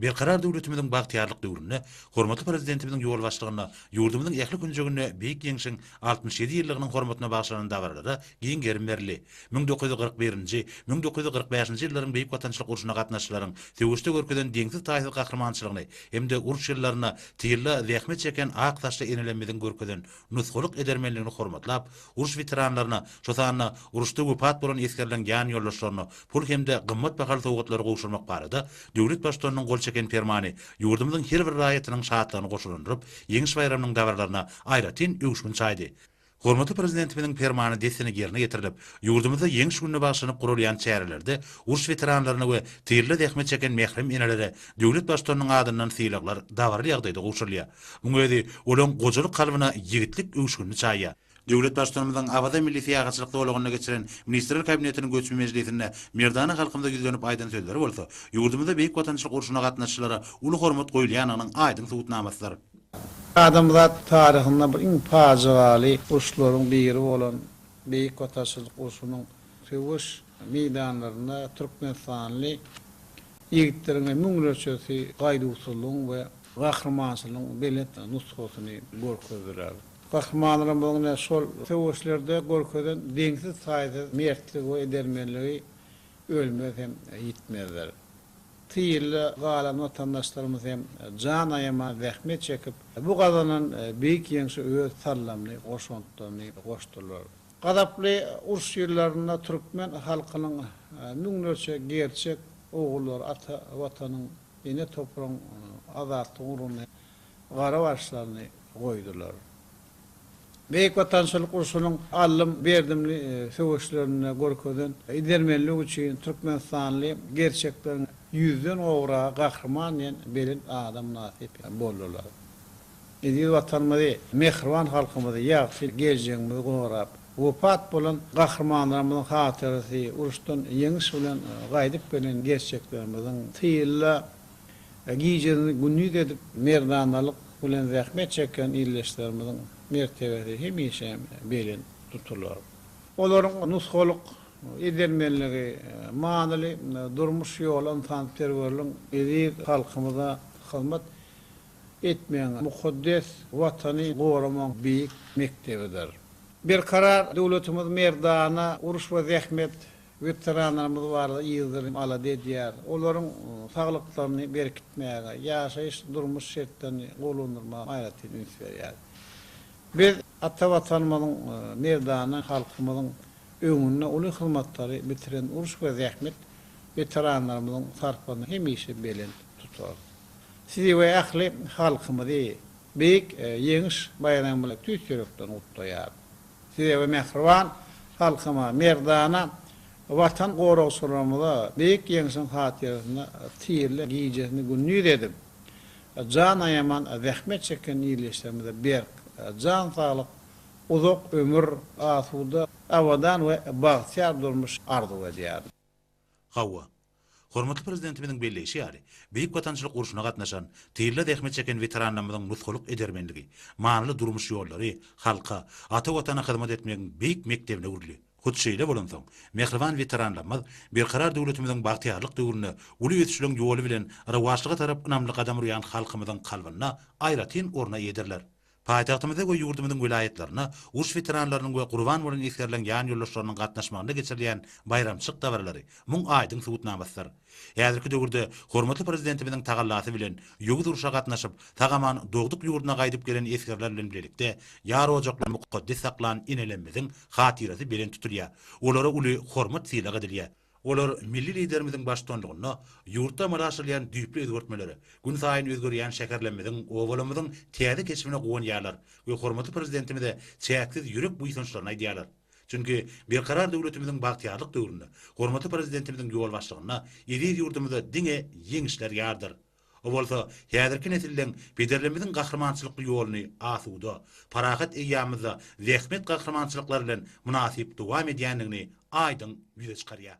Berkarar döwletimiziň bagtyýarlyk döwründe hormatly Prezidentimiziň ýolbaşçylygynda ýurdumyzyň ähli künjeginde Beýik Ýeňşiň altmyş ýedi ýyllygynyň hormatyna bagyşlanan dabaralara giň gerim berildi. Müň dokuz ýüz kyrk birinji, müň dokuz ýüz kyrk bäşinji ýyllaryň Beýik Watançylyk urşuna gatnaşyjylaryň söweşde görkezen deňsiz-taýsyz gahrymançylygyny hem-de uruş ýyllarynda tylla zähmet çeken ak saçly enelemmiziň görkezen nusgalyk edermenligini hormatlap, uruş weteranlaryna, şo sanda uruşda wepat bolan esgerleriň ýanýoldaşlaryna pul hem-de gymmat bahaly sowgatlary gowşurmak barada döwlet Baştutanynyň gol çeken Permany ýurdumyzyň her bir raýatynyň şatlygyny goşalandyryp, Ýeňiş baýramynyň dabaralaryna aýratyn öwüşgin çaýdy. Hormatly Prezidentimiziň Permany dessine ýerine ýetirilip, ýurdumyzda Ýeňiş gününe bagyşlanyp guralýan çärelerde uruş weteranlaryna we tyrly zähmet çeken mährem enelere döwlet Baştutanynyň adyndan sylaglar dabaraly ýagdaýda gowşurylýar. Muň özi olaň gojalyk kalbyna ýigitlik öwüşginini çaýýar. Döwlet Baştutanymyzyň Awaza milli syýahatçylyk zolagynda geçiren Ministrler Kabinetiniň göçme mejlisinde merdana halkymyza ýüzlenip aýdan sözleri bolsa, ýurdumyzda Beýik Watançylyk urşuna gatnaşyjylara uly hormat goýulýandygynyň aýdyň subutnamasydyr. Adamzat taryhynda bu iň pajygaly uruşlaryň biri bolan Beýik Watançylyk urşunyň söweş meýdanlarynda türkmenistanly Ýigitleriň müňlerçesi gaýduwsyzlygyň we gahrymançylygyň belent nusgasyny görkezdiler. Gahrymanlarymyzyň ine şol söweşlerde görkezen deňsiz-taýsyz mertligi we edermenligi ölmez hem ýitmezdir. Tyýrda galan watandaşlarymyz hem jan aýaman zähmet çekip, bu gazanan beýik ýeňşe öz sallamly goşantlaryny goşdular. Gazaply uruş ýyllarynda türkmen halkynyň müňlerçe gerçek ogullary ata Watanyň, ene topragyň azatlyk ugrunda gara başlaryny goýdular. Beýik Watançylyk urşunyň allym, berdimli söweşlerinde görkezen edermenligi üçin türkmenistanly gerçekleriň ýüzden gowragy Gahryman diýen belent ada mynasyp boldular. Eziz Watanymyzy, mähriban halkymyzy, ýagşy geljegimizi gorap, wepat bolan gahrymanlarymyzyň hatyrasy, uruşdan ýeňiş bilen gaýdyp gelen gerçeklerimiziň tylla gijelerini gündiz edip, merdanalyk bilen zähmet çeken ildeşlerimiziň mertebesi hemişe belent tutular. Olaryň nusgalyk edermenligi, manyly durmuş ýoly ynsanperwerligiň eziz halkymyza hyzmat etmegiň, mukaddes Watany goramagyň beýik mekdebidir. Berkarar döwletimiz merdana uruş we zähmet weteranlarymyz barada ýyldyrym alada edýär, olaryň saglyklaryny berkitmäge, ýaşaýyş-durmuş şertlerini gowulandyrmaga aýratyn üns berýär. Biz ata Watanymyzyň merdana halkymyzyň öňünde uly hyzmatlary bitiren uruş we zähmet weteranlarymyzyň sarpasyny hemişe belent tutarys. Sizi we ähli halkymyzy beýik Ýeňiş baýramy bilen tüýs ýürekden gutlaýaryn. Size we mähriban halkyma, merdana Watan goragçylarymyza Beýik Ýeňşiň hatyrasyna tirle gijesini gündiz edip, jan aýaman zähmet çeken ildeşlerimize berk jan saglyk, uzak ömür, asuda, abadan we bagtyýar durmuş arzuw edýärin. Hawa, Hormatly Prezidentimiziň belleýşi ýaly, Beýik Watançylyk urşuna gatnaşan, tylla zähmet çeken weteranlarymyzyň nusgalyk edermenligi, manyly durmuş ýollary halka, ata Watana hyzmat etmegiň beýik mekdebine öwrüldi. Hut şeýle bolansoň, mähriban weteranlarymyz Berkarar döwletimiziň bagtyýarlyk döwründe uly ösüşleriň ýoly bilen rowaçlyga tarap ynamly gadam urýan halkymyzyň kalbynda aýratyn orun eýedirler. Paýtagtymyzda we ýurdumyzyň welaýatlarynda uruş weteranlarynyň we gurban bolan esgerleriň ýanýoldaşlarynyň gatnaşmagynda geçirilýän baýramçylyk dabaralary muň aýdyň subutnamasydyr. Häzirki döwürde hormatly Prezidentimiziň tagallasy bilen ýowuz urşa gatnaşyp, sag-aman dogduk ýurduna gaýdyp gelen esgerler bilen bilelikde ýar ojaklary mukaddes saklan enelerimiziň hatyrasy belent tutulýar, olara uly hormat-sylag edilýär. Olar milli Liderimiziň baştutanlygynda ýurtda amala aşyrylýan düýpli özgertmelere, günsaýyn özgerýän şäherlerimiziň, obalarymyzyň täze keşbine guwanýarlar we hormatly Prezidentimize çäksiz ýürek buýsançlaryny aýdýarlar. Çünki Berkarar döwletimiziň bagtyýarlyk döwründe, hormatly Prezidentimiziň ýolbaşçylygynda eziz ýurdumyzda diňe ýeňişler ýardyr. Bu bolsa häzirki nesilden pederlerimiziň gahrymançylykly ýoluny asuda, parahat eýýamymyzda zähmet gahrymançylyklary bilen mynasyp dowam edýändigini aýdyň ýüze çykarýar.